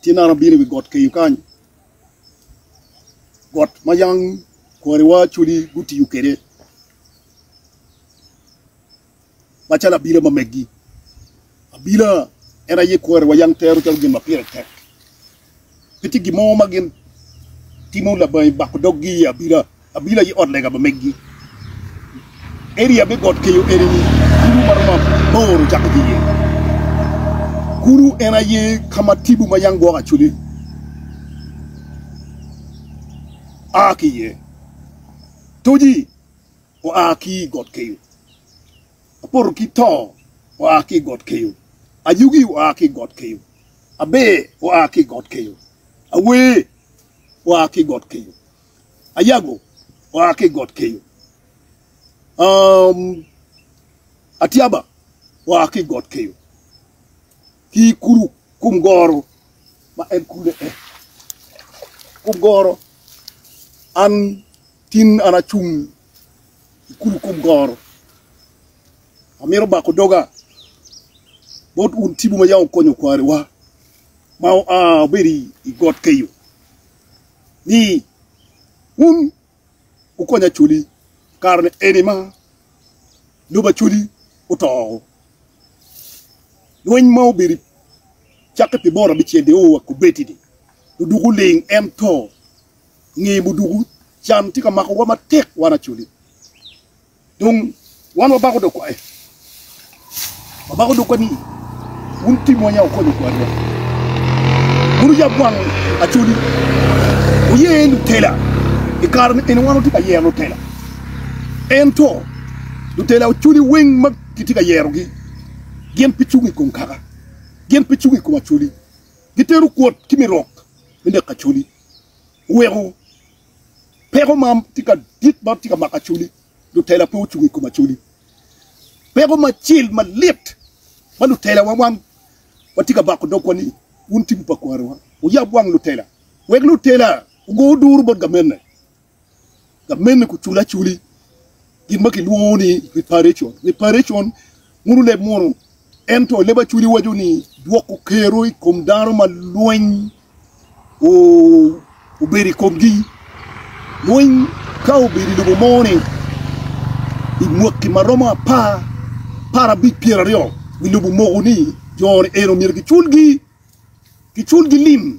Ci naka abino i wi got keyo kany, got ma yam kwariwa acwali gutiyo kwede macalo abila ma megi. Abila en aye kwariwa yam tero calo gin ma pire tek. Pe tye gin mo ma gitimo labangi bako doggi i abila. Abino aye ot lega pa meggi. Eria me got keyo eni kulu ma romo aboro cako ki iye. Kulu en aye ka ma tipo ma yam gwoko acwali a ki iye. Toji oa ki i got keyo, apoto ki to oa ki i got keyo, ayugi oa ki i got keyo, aber oa ki i got keyo, awer oa ki i got keyo. Ayago oa ki i got kenyo, Atyaba oa ki i got kenyo, ki i kulu kum goro ma en kule en. Kum goro, an tin an acung i kulu kum goro, amito bako doga bot wun cibu ma yam wukonyo kwariwa ma oa obedo i got kenyo. ni, Wun wukony Acholi, kare-ni eni ma lobo Acholi oto woko. Lweny ma obedo cakke pi bot abicel dong oa kubeddi-ni, muduku ling en to. I nge muduku, can tye ka makowa matek wan Acholi. Dong wan wabako dok kwaye, wabako dog kwani, wun timwa nya wukonyo kwarwa, wun wuyab wang Acholi, wuye lutela. I kare ni eni wan watye ka yero lutela, ento lutela Acholi weng ma kitye ka yerogi gin pe cung i kom kaka, gin pe cung i kom Acholi, gitero kwot ki mi rok me neko Acholi. Weko peko ma tye ka dit ma tye ka mako Acholi, lutela pe ocung i kom Acholi. Peko macil malit ma lutelawa wang watye ka bako dogwa ni wun tibu pa kwarowa wuyab wang lutela wek lutela ogo duru bot gamenne. ka mene kucule aculi gin ma kilwongo ni reparation. Reparation munu leb munu, ento leb aculi waco ni dwoko kero i kom dano ma lweny obedo i komgi. Lweny ka obedo i lobo mo ni i mwaki ma romo apar, apar abic, pyera aryo wi lobo moko ni jo-ni eno myero kicul gi, kicul gi lim.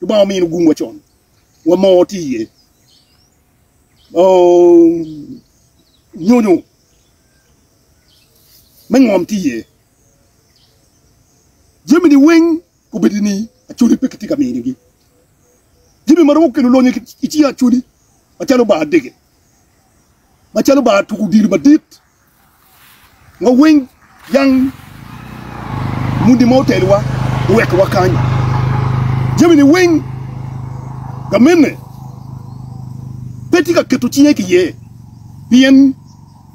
Lubanga omino gung wa con, wa moo tye iye. Nyonyo me ngom tye iye. Jami ni weng obedo ni acholi pe kitye ka mini gi. Jami ma romo kelo lonyo ki cinge acholi macalo bar dege, macalo bar tuko odilo madit. Wawiny yang mudi ma otelowa oweko wakany jamini weng. Gamene pe tye ka keto cinge ki iye, pien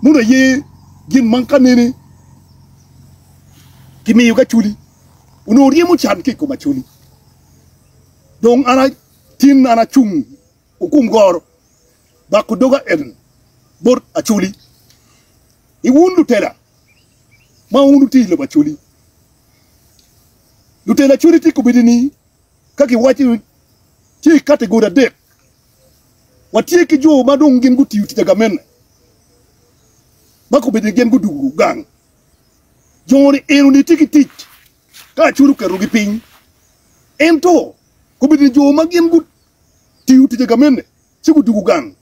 mono aye gin ma ka nene kimiyo ki Acholi, onongo ryemo can ki i kom Acholi. Dong an tin an acung Okum goro bako doga en bot Acoli, ni wun lutela ma wun wuti i lobo Acoli, lutela Acoli ti kobedi ni, ka giwacci ni tye i kategori adek, watye ki jo ma dong gin gutiyo tic agamene, ma kobedi ni gin gudugu gang, jo-ni eno ni ti ki tic Ka Acur oketogi piny, ento kobedo ni jo ma gin gutiyo ticce ka mene ci gudugo gang,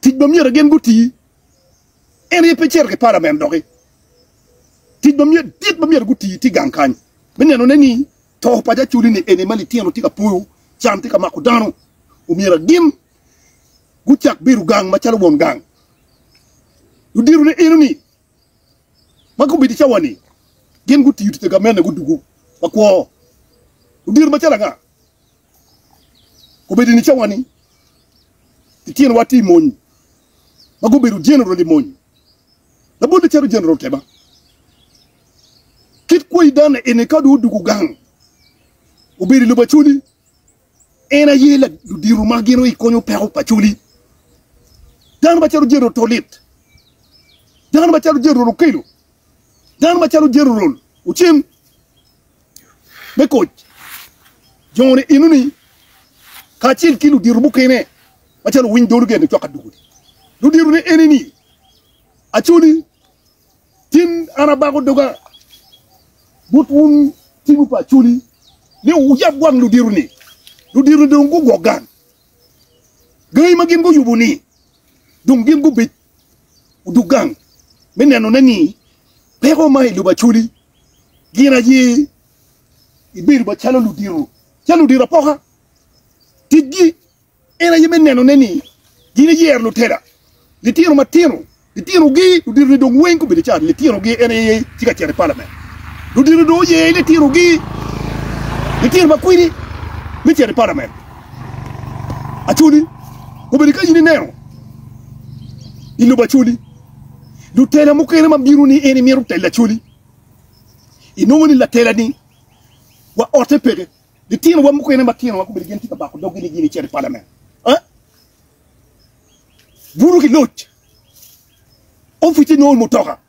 tic ma myero gin guti en aye pe cito ki palament doki. Tic madit ma myero guti tye gang kany me nenone ni to pa jo Acur-ri-ni eni ma litino tye ka poyo, can tye ka mako dano, omyero gin gucak bedo gang macalo won gang. Ludito-ne eno-ni ma gubedo i cawa-ni gin gutiyo tic agamenna gudugu ma kwo. Odiro macalo anga obedo ni cawa-ni litinowa tye i mony ma gubedo jeneral i mony? Labolle calo Jeneral Keba, kit kwo i dane eni ka dong odugo gang obedo i lobo Acholi, En aye ludito ma gin ikonyo peko pa coli. Dano macalo General Tolit, dano macalo General Okello, dano macalo General Ocem me koc joni enoni kacel ki ludito mukene macalo Winy Dolo Gen Cwaka Dugudi. Ludito ne enini Acholi Tin an abako doga bot wun tibu pa Acholi ni wuyab wang ludito-ni. Ludito-ni dong gugwok gang. Gangi ma gin guyubo-ni dong gin gubic odug gang me nenone ni peko ma i lobo Acholi gin aye gibedo macalo ludito, ca ludito apoka. Ticgi. En aye me nenone ni gin eyero lutela, litino matino, litinogi, luditoni dong weng gubedo ca litinogi. En aye tye ka cito i palament. Ludito dong oye litinogi, litino ma kwidi, me cito i palament. Acholi, obedo ka in ineno i lobo Acholi, lutela mukene ma bino ni en imito telo Acholi, inongo ni latela-ni wa otte peke. Litinowa mukene matino ma gubedo gin tye ka bako doggi ni gin icito i palamen, buto ki loc, opice nongo i mutoka,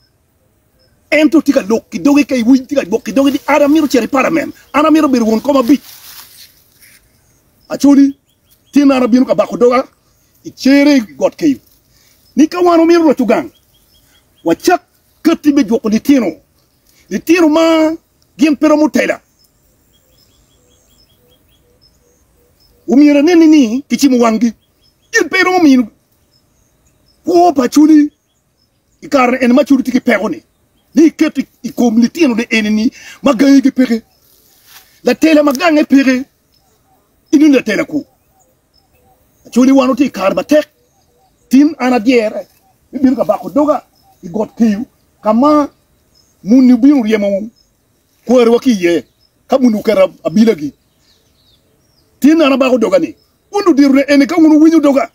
ento tye ka lok ki doge ka iwiny tye ka gwok ki doge ni an amito cito i palamen, an amito bedo won kom abic. Aconi tin an abino ka bako doga i cere i got keyo ni ka wan wamito loco gang wacak katti me jwoko litino litino ma gin pe romo tela. Omyero aneni ni kicimo wanggi, gin pe iromo mino kwo pa cwali i kare eni ma cwali tye ki peko-ni, ni iketo i kom litinone eni-ni ma gangigi peke. Latela ma gange peke, ineni latela kwo. Actually wan watye i kare matek tin an adyere me bino ka bako doga i got Keyo ka ma muni obino oryemo kwariwa ki iye ka muni oketo abilagi. Tin an abako doga ni wun luditona eni ka wun wuwinyo doga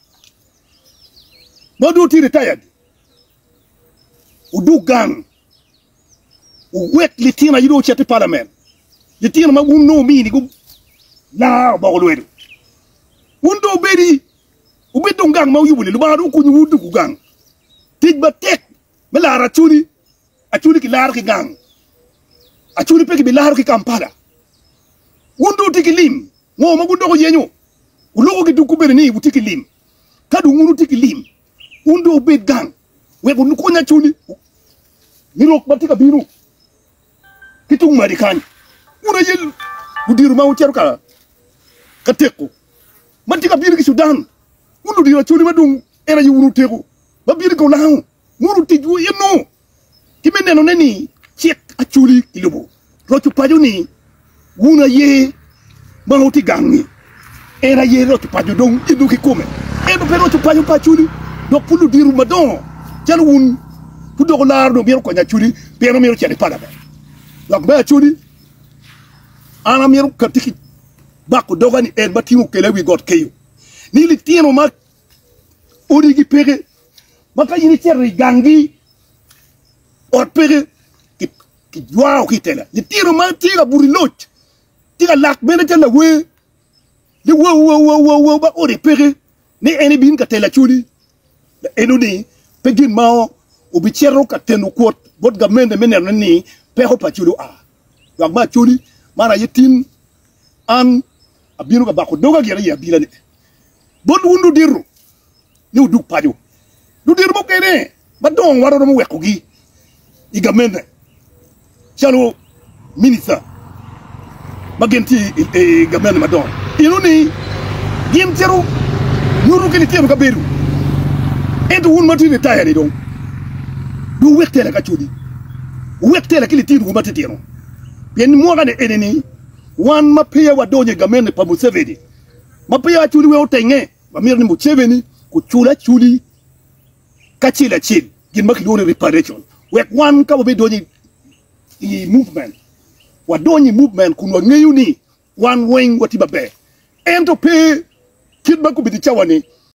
ma dong wutye retired wudog gang Wuwek litino aye dong ocit i palament, litino ma wun dong wumini gu laa oboko lwedo. Wun dong wubedi, wubed dong gang ma wuyubo-ni, Lubanga dong okonyi wun tuku gang. Tic matek me laro Acholi, Acholi kilaro ki gang, Acholi pe kibilaro ki Kampala. Wun dong wutye ki lim, ngo ma gun dok wuyenyo? Wuluko ki tuku bene ni wutye ki lim, ka dong wun wutye ki lim, Wun dong wubed gang wek wukonya cuni ni rok ma tye ka bino ki tung madi kany. Wun aye ludiro ma wucito ka teko ma tye ka bino ki Cudan, wun ludiro acoli ma dong en aye wun oteko ma bino ki olango mono ticwu eno ki me nenone ni cik Acholi kilubo. Loco paco ni wun aye ma wutye gang-ngi, en aye loco paco dong idog ki kome. Ento pe loco paco pa Acholi, dok pud ludito madongo calo wun gudoko laro dong mito konyo Acholi pien omito cito i palament. Dok me Acholi, an amito katti ki bako doga ni en ma tingo kela i wi got keyo ni litino ma Odigi peke, ma ka in icito i ganggi, ot peke, kijwao ki i tela. Litino ma tye ka buto i loc, tye ka lak bene calo lawer, ni wau wau wau wau wau ma ode peke, ni en ibin ka tela codi. Enoni pe gin ma obicito ka teno kwot bot gamente me neno ni peko pa codi oa. Lwak me Acholi, Man aye tin, an abino ka bako doga gire i abila-ni bot wun ludito, ni wudug paco. Ludito mukene madongo waromo wekogi i gamente calo minista ma gin tye i gamente madongo eno ni gin cito nyuto ki litino kabedo, ento wun ma tye ritaya-ni dong, dong wuwek tela ki Acholi. wuwek tela ki litinowu matitino, pien mwakane enini wan ma peya wadonyo i gamente pa Museveni, ma peya waculi wek otenge, wamito ni Museveni ocul aculi kacel acel gin ma kilwongo ni reparation, wek wan ka wabidonyo i movement, wadony i movement kun wangeyo ni wan weng watye maber, ento pe kit ma gubedo i cawa-ni.